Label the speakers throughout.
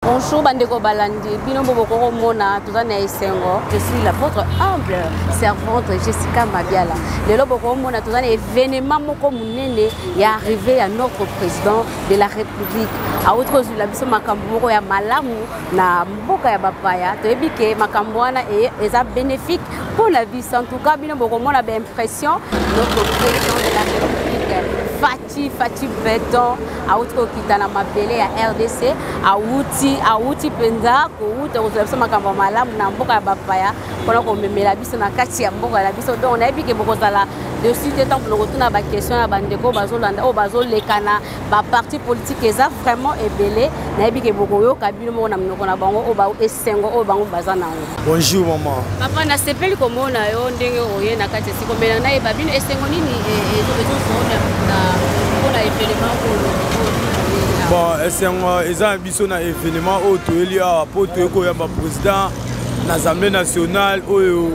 Speaker 1: Bonjour bandeko balandi bino mpo bokoki komona toza na esengo je suis la votre humble servante jessica mabiala lelo bokoki komona toza na événement moko monene ya arrivé ya notre président de la république awuti kozwila biso makambo moko ya malamu na mboka ya bapaya toyebi ke makambo wana e, eza bénéfique mpo na biso en tout cas bino bokomona baimpression notre président de la république Fatshi, Fatshi Beton, awuti kokita na mabele ya RDC, awuti awuti mpenza kowuta kozwa biso makambo malamu na mboka ya bapaya mpona komemela biso na kati ya mboka na biso donc nayebi ke bokozala dessus te ntango lokotuna baquestion ya bandeko bazolanda oyo bazolekana baparti politike eza vraiment ebele nayebi ke bokoyoka bino moko na minoko na bango oyo esengo oyo bango baza na yango Bonjour maman. Papa
Speaker 2: na sepeli
Speaker 1: komona yo ndenge oye na kati esiko mela na yeba bino esengo nini
Speaker 2: ezozona na mpona evenement oyo bon esengo eza na biso na evenement oyo toyeli awa mpo toyei koyamba président na assemblée nationale oyo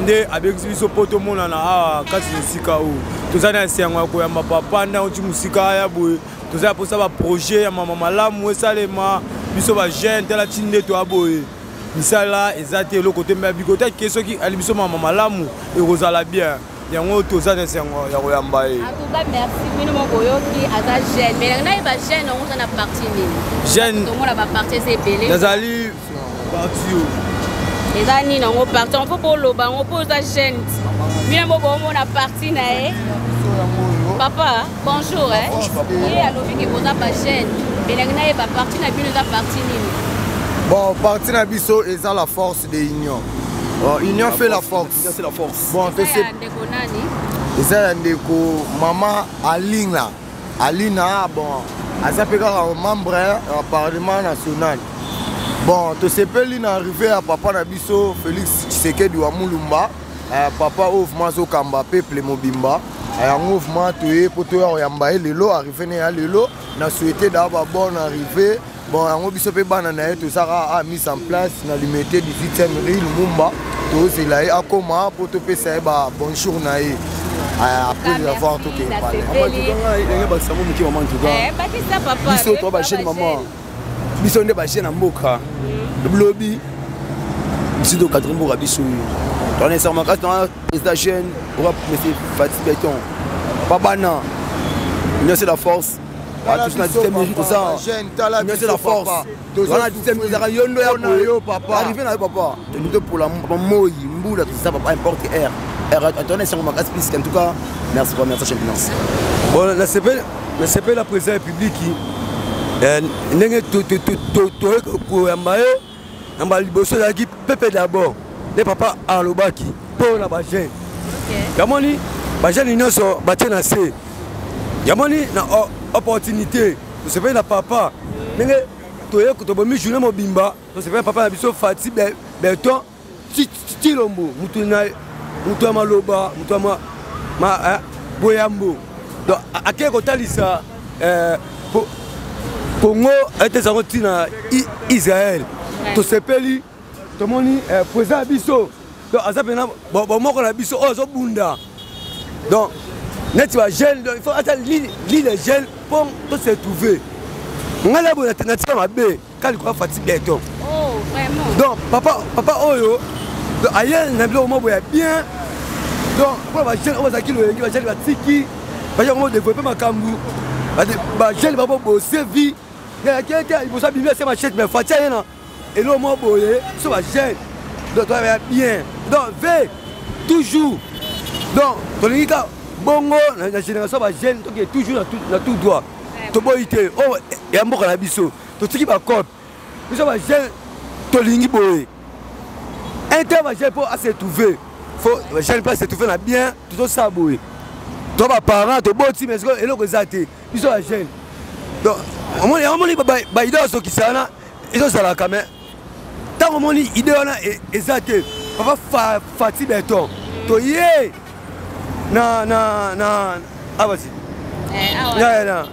Speaker 2: nde abengisi biso mpo tomonana awa kati na esika oyo toza na esengo ya koyamba papa nde auti mosika aya boye toza ya mposa baprojet ya mama malamu esalema biso bajeune tala ti nde toya boye misala eza te eloko te me bigota ke soki ali biso mama malamu ekozala bien yango toza na esengo ya koyamba ye nazali parti
Speaker 1: eza nini yango parti yango mpo boloba yango mpo oza jeune bino yango boomona parti na ye papa Bonjour eh. Ye alobi ke boza ba jeune. Belangi na ye ba parti na bino eza parti nini? Bon,
Speaker 3: parti na biso eza la force de union. Oh, union fait la force. C'est la force. Bon, c'est
Speaker 2: ça. Ndeko
Speaker 3: nani? Eza ya ndeko mama Alina. Alina bon, aza pe kaka membre ya eh, parlement national. Bon, tosepeli na arrivée ya papa na biso Félix Tshisekedi wa Mulumba. eh, papa oyo vraimen azokamba peuple mobimba eh, yango vraimen toye mpo toya koyamba ye lelo arrive ne ya lelo na souhaite daa babonne arrive bon yango biso mpe bana na ye tozaka a ah, mise en place na limete 18e rue lumumba tozela ye akoma mpo topesa ye ba bonjour na ye ah, après de l'avoir tokende pale ndenge
Speaker 2: basango moke mama ntuka biso
Speaker 1: toa bajeune mama
Speaker 2: biso nde baje na mboka mm. lobi biso tokatri mboka biso yo toanesa makasi na président jeune oka monsieur fati beton babana union c'est la force tous na dixième minute oza union c'est la force toza na dixième minute ezaka yondo ya arrivé na yo papa tolingi topola moi mbula toza papa importe air air atona esango makasi piske en tout cas merci papa merci chef finance bon nasepeli nasepeli na président ya publiki eh, ndenge toye koyamba ye na mbala liboso ezalaki pepe d'abord nde papa alobaki mpo na bajeune yamoni bajeune nyonso batie na se yamoni na opportunité tosepeli na papa ndenge toye tobomi journée mobimba tosepeli na papa na biso fati beton Chilombo mutu na mutu ya maloba mutu ya ma, ma eh, boyambo donc akei kotalisa eh, po, Congo ete ezango ntina Israël tosepeli tomoni eh, président ya biso donc aza mpena bomoko na biso oyo azobunda donc neti bajeune donc il faut ata lile jeune mpo to se trouve ngai na boye natika mabe kali kwa fati beton oh vraiment
Speaker 1: donc papa papa
Speaker 3: oyo donc aye na biloko moko ya bien donc mpo bajeune oyo bazalaki loyenge bajali batiki bajeune moko developpe makambo bajeune babo bose vie yayakeke liboso abimi ase machete mais fati aye na eloko moko boye so bajeune donc toya bien donc ve toujours donc tolingi ka bongo na génération bajeune toke toujours na tout droit toboyi te oyo oh, ya mboka na biso totiki bacope biso bajeune tolingi boye un temps bajeune mpo asetrouve fo bajeune mpo asetrouve na bien tozosala boye to baparent toboti mais sikoyo eloko eza te biso bajeune donc omoni yango omoni baidole azokisa wana ezozalaka mais ntango omoni ide wana e, eza te papa fa, fati beton toye na na na abasi ah, eh, ah, na na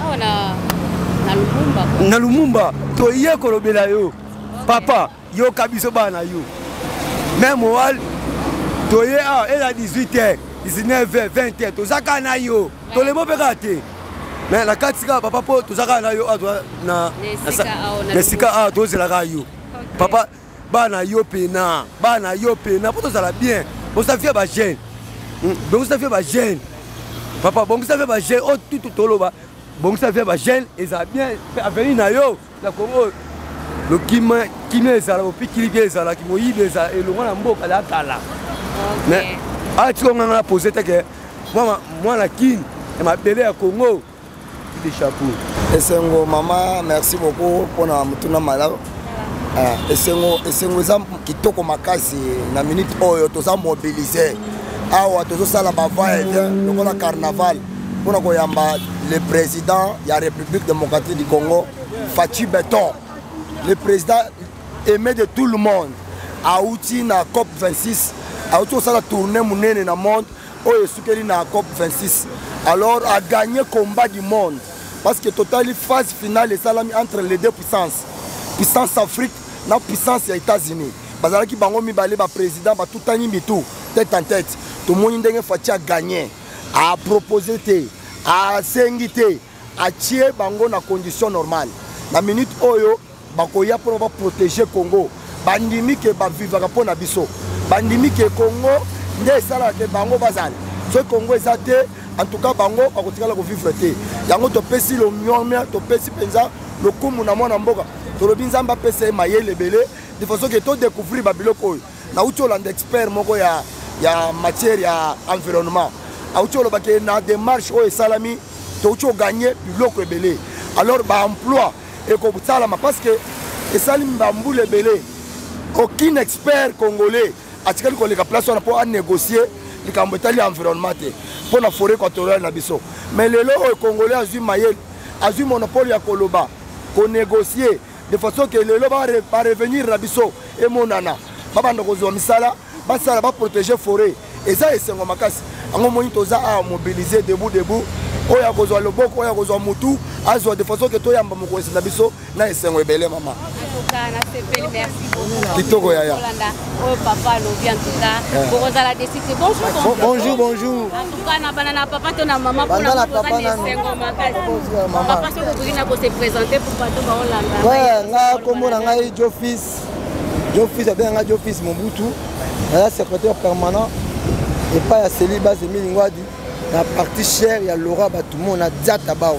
Speaker 3: ah, na na lumumba toye kolobela yo papa yoka biso bana yo meme owal toye awa eza 18 heures 19 heures 20 heures toza kaka na yo tolembo mpe kaka te mais na kati kaka papa mpo toza kaka na yo awa na esika awa tozela kaka yo papa baa na yo pena baa na yo pena mpo tozala bien bongisa vie ba jeune hmm, bongisa vie ba jeune papa bongisa vie ba jeune oyo oh, tutu toloba bongisa vie ba jeune ezala bien mpe avenir na yo na kongo oyo lokima kimia ezala bopikiliki ezalaki moyibi ezala elongo na mboka ya kala mais atika nganga na pose te ke mwana kini ya mabele ya kongo de chapeau esengo mama
Speaker 4: merci beaucoup mpona motuna malamu ah, esengo esengo eza kitoko makasi na minute oyo toza mobilise awa tozosala bavaya bien lokola carnaval mpo na koyamba le président ya république démocratique du congo faci beton le président aimé de tout le monde auti na cop 26 auti kosala tourne monene na monde oyo esukeli na cop 26 alors agagne combat du monde parce que totali phase finale esalami entre les deux puissances puissance afrique na puissance ya états-unis bazalaki bango mibale baprésident batutani mitu tête en tête tomoni ndenge faci agagne apropose te asengi te atie bango na condition normale na minute oyo bakoya mpona baprotege congo bandimi ke bavivaka mpo na biso bandimi ke congo nde esalaka ke bango bazala soki congo eza te en tout cas bango bakotikala kovivre te yango topesi lomiomia topesi mpenza lokumu na mwana mboka tolobi nzambe apesa ye mayele ebele de façon ke todecouvrir babiloko oyo nauti olanda expert moko ya, ya matière ya environnement auti oloba ke na démarche oyo esalami touti oganye biloko ebele alors baemploi ekosalama parce que esali bambula ebele aucun expert congolais atikali koleka place wana mpo anégocie likambo etali environnement te mpo na foret équatoriale na biso mais lelo oyo congolais azwi mayele azwi monopole ya koloba konégocie de façon que lelo ba revenir na biso emonana babanda kozwa misala basala baprotege foret eza esengo makasi yango moni toza awa mobilise debout debout oyo akozwa loboko oyo akozwa motu azwa de façon ke toyamba mokonzi na biso na esengo ebele mama
Speaker 1: kitoko yaya bonjour bonjour na bana na papa to na mama mpona oza na esengo makasipapa soki okoki na kose présente pour bato baolanda nga nkombo
Speaker 5: na ngai jofis jofis abenga ngai jofis mobutu naza secrétaire permanent epai ya seli base emilingwadi na parti chere ya laura batumona diata bao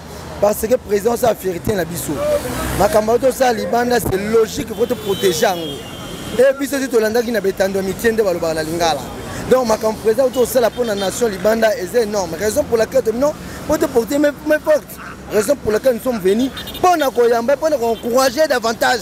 Speaker 5: parce que président oza fierité na biso makambo oyo tosala libanda c'est logique faut toprotege yango e biso ti tolandaki na betando ya mitie nde balobaka na lingala donc makambo président oyo tosala mpo na nation libanda eza énorme raison pour laquelle tomino mpo toporte mes porte raison pour laquelle nous sommes venus mpo na koyamba mpo na koencourager davantage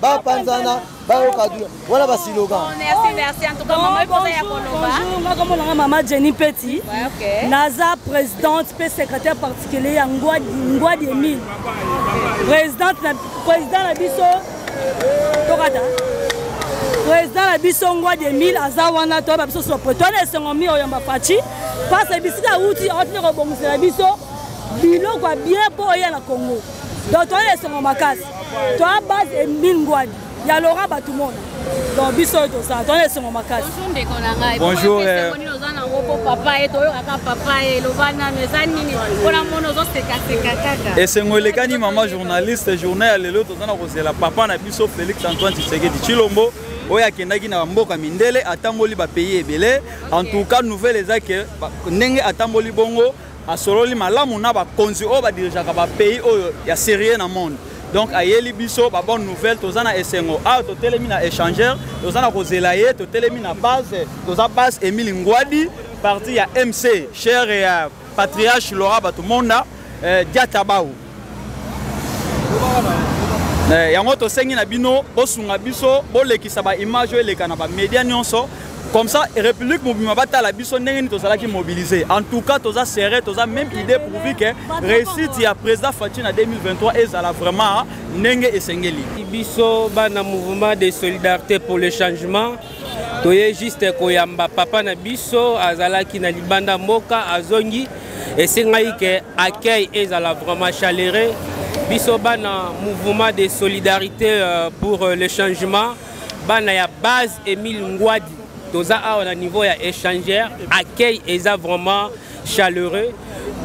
Speaker 5: bapanzana bayoka dula wana basiloga
Speaker 1: ngakomonanga
Speaker 6: mama jenny peti naza présidente mpe secrétaire particulier ya ngwadi emile président na biso tokata président na biso ngwadi emile aza wana toyeba biso sopreto na esengo mi oyamba faci mpasa bisika awuti aotine kobongisela biso biloko ya bien mpo oya na congo donc toyeba esengo makasi toa base emile ngwadi ya laurent batumona donc biso oyo tozala toana esengo makasi bonjour
Speaker 1: eh. esengo elekani
Speaker 7: mama journaliste journée ya lelo toza na kozela papa na biso félix antoine tshisekedi tshilombo oyo akendaki na mboka mindele atamboli bapays ebele en tout cas nouvelle eza ke ndenge atamboli bongo Asololi malamu na ba konzi oyo ba dirigeaka ba pays oyo ya serieux na monde. Donc ayeli biso ba bonne nouvelle toza na esengo. Ah totelemi na échangeur, toza na kozela ye, totelemi na base, toza base Emile Ngwadi, parti ya MC, cher ya patriarche Laura Batumonda, eh, Diatabao. Eh, yango tosengi na bino bosunga biso bolekisa baimage oyo eleka na bamedia nyonso comme ça république mobima batala biso ndenge nini tozalaki mobilise en tout cas toza serré toza même idée pourvu que réussite ya président faci na 2023 ezala vraiment ndenge esengeli biso bana
Speaker 8: mouvement de solidarité pour le changement toye juste koyamba papa na biso azalaki na libanda mboka azongi esengaki ke accueil ezala vraiment chaleureux biso bana mouvement de solidarité euh, pour euh, le changement bana ya base emile ngwadi toza awa na niveau ya échangeur accueil eza vraiment chaleureux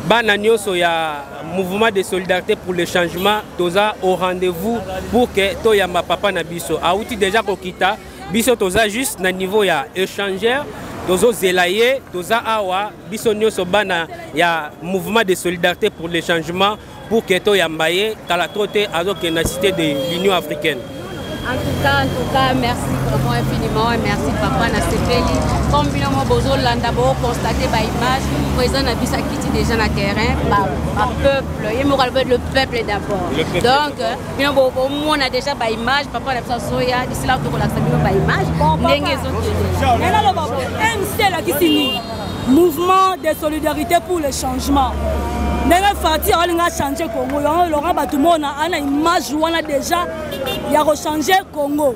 Speaker 8: bana nyonso ya mouvement de solidarité pour le changement toza au rendez-vous pour que toyamba papa na biso awuti déjà kokita biso toza juste na niveau ya échangeur tozozela ye toza awa biso nyonso bana ya mouvement de solidarité pour le changement pour ke toyamba ye kala tro te azokende na cité de l'union africaine en tout cas
Speaker 1: en tout cas merci vraiment infiniment et merci papa nasepeli comme bino mo bozolanda bokonstate baimage président na biso akiti déjà na terrain bapeuple ye moko alobeli le peuple d'abord donc bino bomona déjà baimage papa na biso azoya disila tokolakisa bino baimage ndenge ezokendela
Speaker 6: mc elakisi nini mouvement de solidarité pour le changement ndenge fati alinga achange congo yango elonga bato mona ana image wana déjà ya kochange congo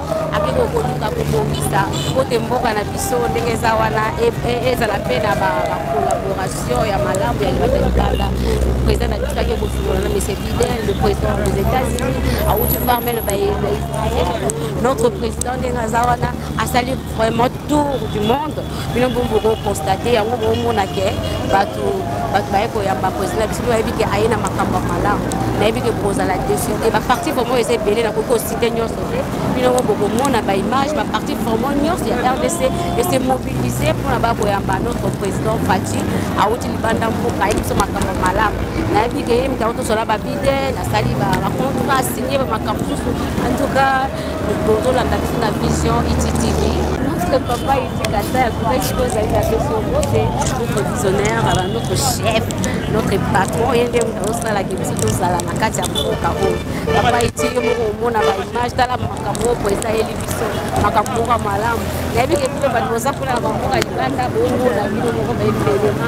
Speaker 1: ake kokoluka kobongisa kote mboka na biso ndenge eza wana e, e, ezala mpe na bacollaboration ya malamu ya libata libanda président na biso ake kosolola na monsieur biden le président des états-unis awuti farmele baisrael notre président ndenge aza wana asali vraiment tour du monde bino mpo bokokonstate yango bokomona ke bato bato baye koyamba président na biso mpe bayebi ke aye na makambo ya malamu nayebi ke bokozala desu te baparti vraimen eza ebele nakoki kosite nyonso te bino ngo bokomona baimage baparti vraimen nyonso ya rdc ese mobilise mpona bakoyamba notre président fati awuti libanda mboka ayebi biso makambo malamu nayebi ke ye mitakotosola babide nasali bacontra signe bamakambo mosusu en tout cas tozolanda tina vision ititv notre papa itikata ya kubaisi oyo ezali na biso mbote notre visionnaire ala notre chef notre patron ye nde moto azosalaki biso tozala na kati ya mboka oyo papa iti yo moko omona baimage tala makambo oyo esaleli biso makambo moko malamu nayebi ke bino bato boza kuna na bamboka libanda bomona bino moko baebelema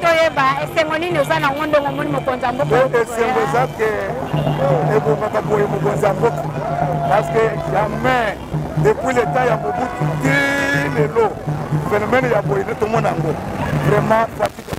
Speaker 3: toyeba
Speaker 9: esengo nini oza na ngo ndongo omoni mokonzi ya mboka esengo eza ke
Speaker 3: ebongaka boye mokonzi ya mboka parce que jamais depuis le temps ya mobutu ti lelo phénomène ya boye nde tomona yango vraiment fatike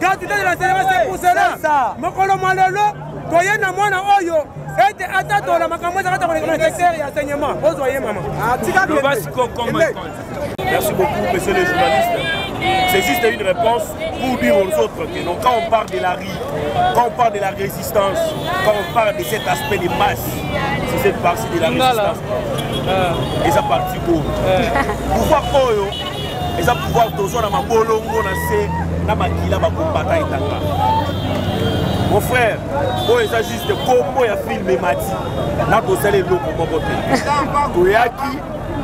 Speaker 3: kandida de la servese kusela mokolo mwa lelo toye na mwana oyo ete atatola makambo ezaka ta kolekana secteur ya enseignement ozwa ye mama ah, Merci
Speaker 10: beaucoup, monsieur le journaliste. C'est juste une réponse pour dire aux autres que non, quand on parle de la rue, quand on parle de la résistance, quand on parle de cet aspect des masses, c'est cette partie de la résistance. Et ça partie pour. Pouvoir Oyo, eza pouvoir tozwa na mabolongo na se na makila bakombata etanga mon frère oyo eza juste kombo ya filme emati na kosala eloko moko te toyaki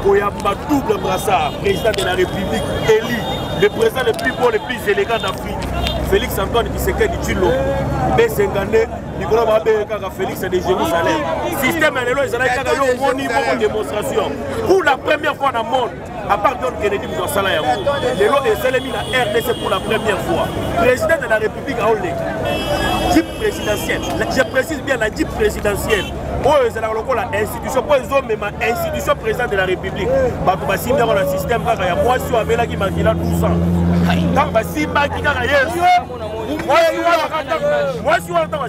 Speaker 10: koyamba double brassard président de la république élu le président le plus beau le plus élégant d'afrique félix antoine kisekedi tshilombo besenga nde likolo babeye kaka félix de jérusalem système ya lelo ezalaki kaka yo omoni moko démonstration pour la première fois na monde à part John Kennedy moto asala yango lelo esalemi na rdc pour la première fois président de la république aoleka jeep présidentielle je précise bien la jeep présidentielle oyo ezalaka lokola institution mpo ezomema institution président de la république bato basimbi yango na système kaka ya mwasi oyo amelaki makila 12 ans ntango basimbaki kaka yesu mwasi wana ntango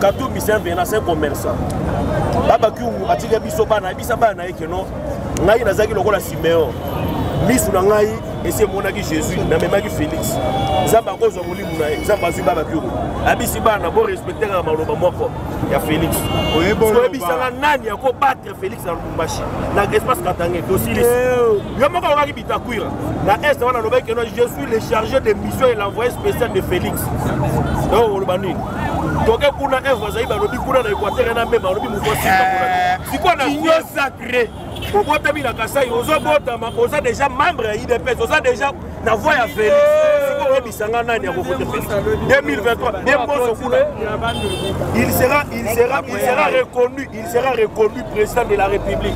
Speaker 10: katumbi c'est un venant c'est un commerçant baba kiungu atika biso bana ayebisa bana na ye keno ngai nazalaki lokola simeon misu na ngai esi emonaki jésus namemaki félix nzambe akozwa molimo na ye nzambe azwi baba kioko abisi bana borespectaka na maloba moko ya félix oyebisaka nani akobatre Felix na Lubumbashi na espace Katangais tosilisi eh. yo moko alobaki Bitakwira na est wana alobaki keno je suis le chargé de mission et l'envoyé spécial de Felix donc oloba nini toke kuna evre azali balobi kuna na équateur na mema alobi moto sikoyo na union sacré obotami na kasai ozobotama oza déjà membre ya idps oza déjà na voix ya Felix eh. sikoyo oyebisa nga nani akovote Felix 2023 nde mboso kuna il sera il sera il sera reconnu il sera reconnu président de la république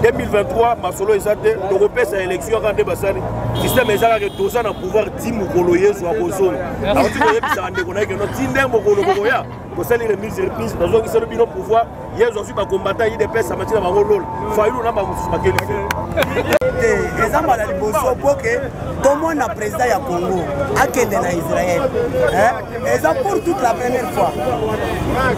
Speaker 10: 2023 masolo eza te tokopesa élection kaka nde basali système eza kaka toza na pouvoir ti mokolo yezu akozonga akoki koyebisaka ndeko na ye keno ti nde mokolo bokoya tosali remise reprise nazongiselo bino pouvoir yezu azwi bakombata idps amati na bango lola fayulu na bamosusu bakeli te
Speaker 5: eza mbala liboso mpo ke tomona président ya congo akende na israel eza pour toute la première fois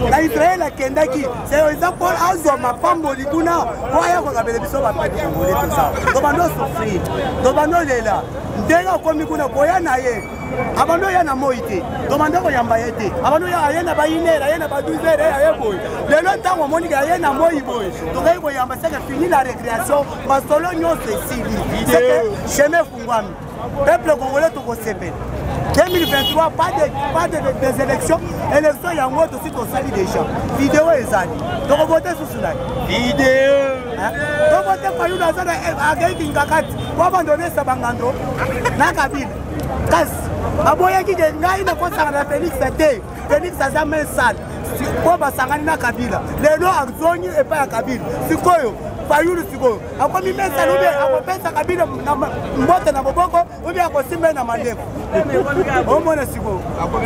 Speaker 5: na israel akendaki seo eza po azwa mapamboli kuna po aya kokabela biso bapete kongole toza tobando souffrir tobando lela ndenge akomi kuna koya na ye abandi oya na moi te tobanda koyamba ye te abandi oya aye na bainere aye na ba 12 heure aye boye lelo ntango omonike aye na moi boye tokei koyamba seke fini la récréation masolo nyonso esili seke chemin efungwami peuple congolais tokosepela 2023 pas de, pas de, des élections élection yango tosi tosali déjà video ezali tokovote susu nani video tovote fayulu aza akei kingakati po abandonesa bangando na kabila kasi baboyaki ke ngai nakosanga na félix te félix aza main sale po basangani na kabila lelo azongi epai ya kabila sikoyo fayulu sikoyo akomi mesa lobi akopesaka bino mbote na boboko obi akosimba ye na mandefu omona sikoyo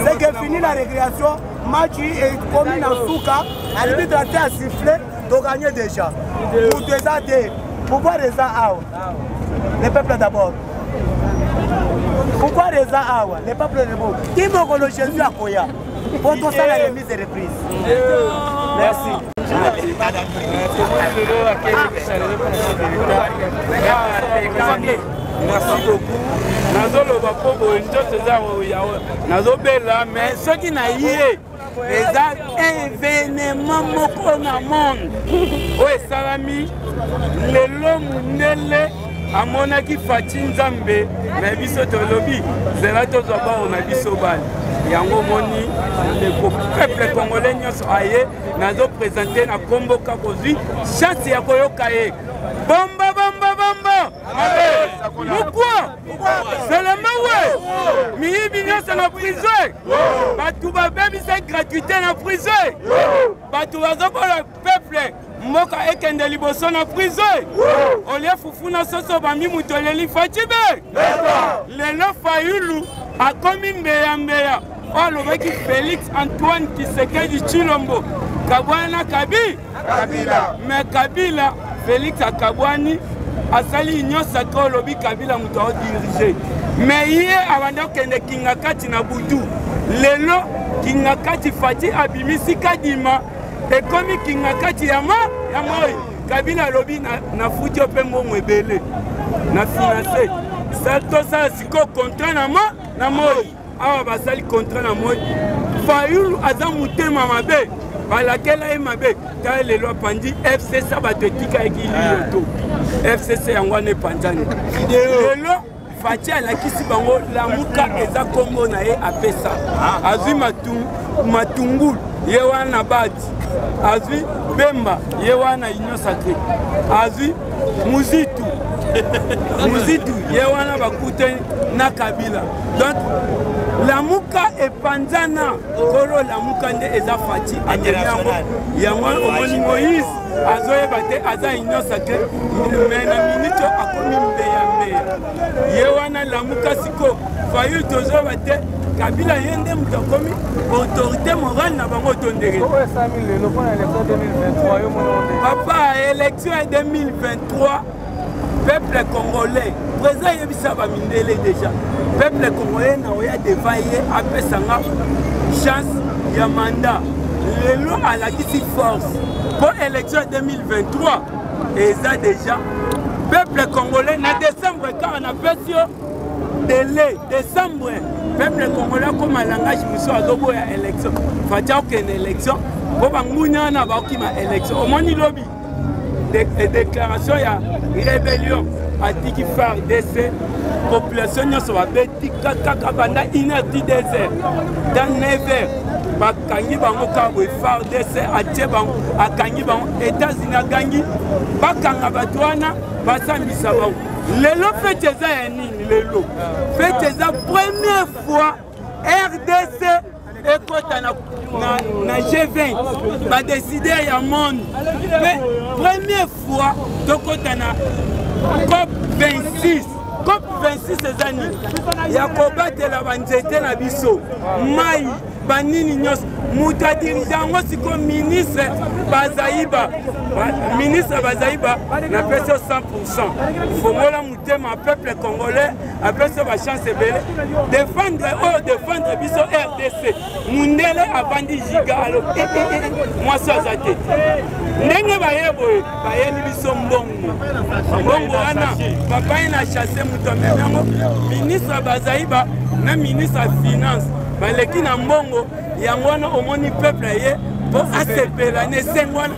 Speaker 5: seke fini na récréation match ekomi na suka arbitre ate asifle toganye déjà moto eza te pouvoir eza awa le peuple d'abord pouvoir eza awa le peuple debout ti mokolo jésus akoya po tosala remise et reprise
Speaker 8: merci merci beaucoup nazoloba mpo boye nzoto eza nazobela mais soki na ye eza evenema moko na monde oyo esalami lelo mondele amonaki faci nzambe na biso tolobi zela tozwa baoyo na biso bana yango omoni ndeko peuple congolais nyonso aye nazo présente na nkombo kakozwi chance ya koyoka ye bomba bomba bomba mokwa selemawe miyibi nyonso na prison bato babebisa gratuité na prison bato bazokola peuple mboka ekende liboso na prise olie fufu na soso bambi moto eleli facibe lelo fayulu akomi mbeyambeya oyo alobaki félix antoine kisekedi chilombo kabwana na kabi kabila me kabila félix akabwani asali union sacre olobi kabila moto aodirige me ye abanda kokende kingakati na butu lelo kingakati fati abimisi kadima ekomi kinga kati ya ma ya moi kabila alobi nafuti yo mpe mbongo ebele na finance tosala sikoyo contrat na ma na moi awa basali contrat na moi fayulu aza motema mabe balakela ye mabe ta lelo apandi fcc bato etikaki liyoto ah. fcc yango wana epanzani lelo Fatshi alakisi bango lamuka eza kombo na ye apesa ah. azwi matungulu ye wana bati azwi bemba ye wana union sacré azwi muzitu muzitu ye wana bakutani na kabila donc lamuka epanzana kolo lamuka nde eza fati ameli yango yango omoni moïse azoyeba te aza union sacre me na minute oyo akomi mbeya mbeya ye wana lamuka siko fayu tozoyeba te kabila ye nde moto akomi autorité morale na bango to ndenge papa élection ya 2023 peuple congolais président eyebisa bamindele déjà peuple congolais na oya deva ye apesa nga chance ya mandat lelo alakisi force mpo élection ya 2023 eza déjà peuple congolais na décembre kaka napesi yo dele décembre peuple congolais akoma langage mosusu azoboya élection fati akokende élection mpo banguni wana bakima élection omoni lobi de, déclaration ya rébellion atiki fardc population nyonso babeti kaka banda inerti desert dans 9 heures bakangi bango kaka boye fardc atie bango akangi bango états-unis agangi bakanga bato wana basambisa bango lelo feti eza ya nini lelo feti eza première fois rdc ekota na, na, na G20 badesider ya monde mpe première fois tokota na cop 26 cop 26 eza nini ya kobatela banzete na biso mai banini nyonso moto
Speaker 11: adirige yango sikoyo ministre bazaiba ministre bazaiba napesi yo 100 fongola moto tema peuple congolais apesi ba chance ebele defendre oyo oh, defendre biso rdc mundele avandi giga alo eh, eh, eh, mwasi aza te ndenge baye boye bayeli biso mbongo mbongo wana papa ye na chasse moto amemi yango ministre bazaiba na ministre ya finance baleki na mbongo yango wana omoni peuple ye mpo asepela na esengo wana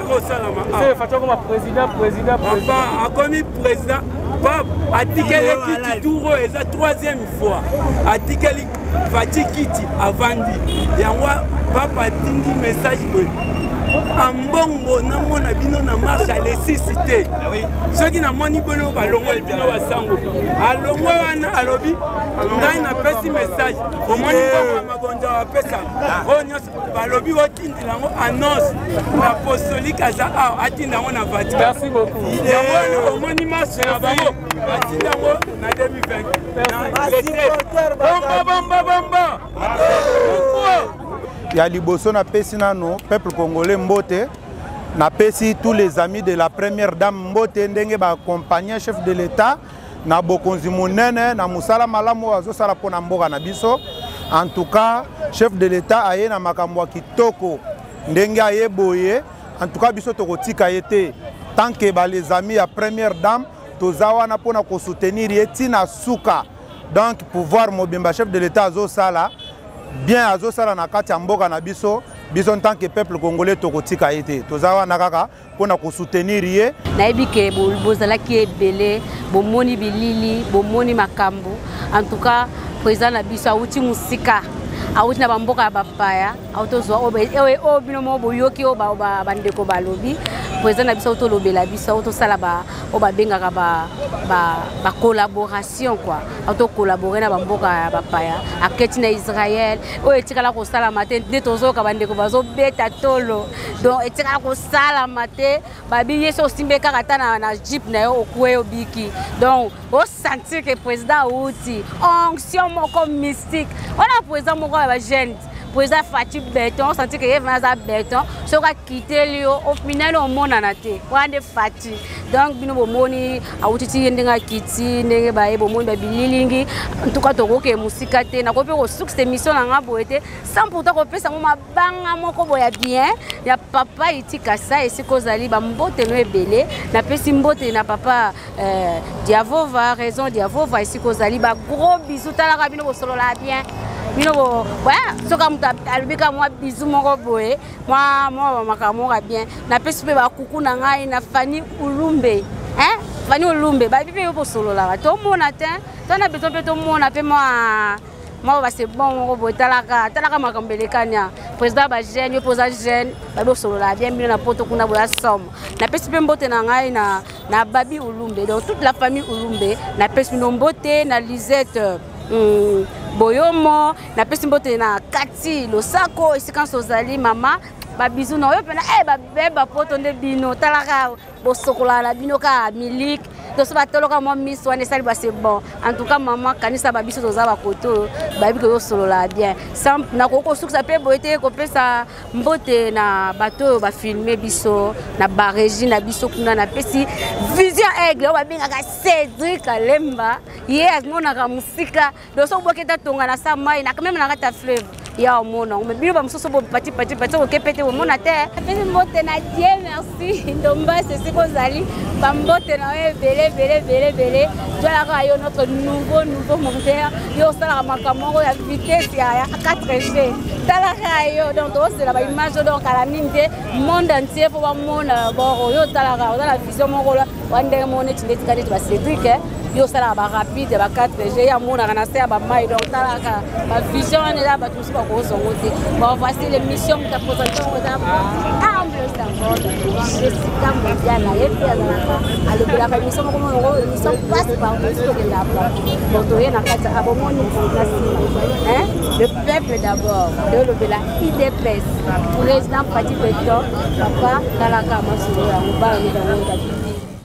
Speaker 11: ekosalama fatokoma
Speaker 8: président président papa akomi
Speaker 11: président pap atikeli kiti tour oyo eza troisième fois atikeli fati kiti avandi yango papa atindi message boye ambongo namona bino na marche alesisi te ah soki namoni bino balongoli bino basango alongwe wana alobi ngai napesi message omoni mbongo ya magonza bapesa oyo nyonso balobi otindela yango annonce na apostolike aza awa atinda yango na vatican yango
Speaker 8: wana omoni
Speaker 11: maso na bango batinda yango na 2020bombabomba
Speaker 12: ya liboso napesi nano peuple congolais mbote napesi tous les amis de la première dame mbote ndenge baacompagne chef de l'état na bokonzi monene na mosala malamu oyo azosala mpo na mboka na biso en tout cas chef de l'état aye na makambo ya kitoko ndenge aye boye en tout cas biso tokotika ye te tant que ba les amis ya première dame toza wana mpo na kosoutenir ye ntina suka donc pouvoir mobimba chef de l'état azosala bien azosala na kati ya mboka na biso biso en tant que peuple congolais tokotika ye te toza wana kaka mpo na kosoutenir ye nayebi ke
Speaker 1: bozalaki ebele bomoni bilili bomoni makambo en tout cas président na biso awuti mosika awuti na bamboka ya bapaya awuti ozwa oyo bino moko boyoki oyo bandeko balobi président na biso awuti olobela biso awuti osala oyo babengaka bacollaboration kua awuti ocollabore na bamboka ya bapaya aketi na israel oyo etikala kosalama te nde tozoyoka bandeko bazobeta tolo donc etikala kosalama te babi ye so osimbi ye kaka ata na, na jeep na yo okue obiki donc osentir ke président auti onction moko mystique wana président moko ya bajeune président fati beton osentir ke ye vana aza beton soki akiteli yo ofinani omonana te wana nde fati donc bino bomoni awuti ti ye ndenge akiti ndenge baye bomoni babililingi ntuka tokoke mosika te nakoki mpe kosuks émission na ngai boye te sans pourtant kopesa ngo libanga moko boye ya bien ya papa itika sa esika ozali bambotelo ebele napesi mbote na papa euh, diavova raison diavova esika ozali bagros bisu talaka bino bosololaka bien bino soka moto alobi ka mwa bizu moko boye mwa makambo moko ya bien napesi mpe bakuku na ngai na fani ulumbe fani ulumbe babi mpe yo bosololaka tomona te to na bezo mpe tomona mpe mwa moko base bon moko boye talaka talaka makambo elekani a président ba jeune yo mpe oza jeune babi osolola bien bino na poto kuna boya somme napesi mpe mbote na ngai na, na babi ulumbe donc toute la famille ulumbe napesi bino mbote na lisette mm, boyomo napesi mbote na kati losako esika nso ozali mama babizu na oyo mpena e eh, babeba poto nde bino talaka bosokolaka na bino kaka miliki toso batoloka mwa miso wana esali base bon en tout cas mama kanisa babiso toza bakoto oyo bayebi tozosolola bien sans nakoki kosukisa mpe boye te kopesa mbote na bato oyo bafilme biso na baregie na biso kuna napesi vision aigle oyo babengaka cédrik alemba ye amonaka mosika doso boketa tonga na sa mai na meme na kati ya fleuve ya omona yango bino bamosusu bopati pati pati okepe te omona te apesi mbote na die merci ndombasi esika ozali bambote na yo ebele ebele ebele ebele jwalaka yo notre nouveau nouveau monteur yo osalaka makambo moko ya vitesse ya 4 g talaka yo donc tozosela baimage oyo donc kala mingi te monde entier mpo bamona bor oyo otalaka oza na vision moko wana ndenge moko neti nde tika neti ba cédrik eh. yo osalaka ba rapide ya ba 4 g amonaka na se ya bamai donc talaka bavision wana eza bato mosusu bakozongo te bon voici l'émission moto apresente yango eza humble sangol jessica mondiala ye mpe azalaka alobelaka émission moko monoko émission passe par mosu tokenda apa donc toye na kati abomoni na nsima le peuple d'abord nde olobela idps president fati beton papa talaka masolo yango bana mibale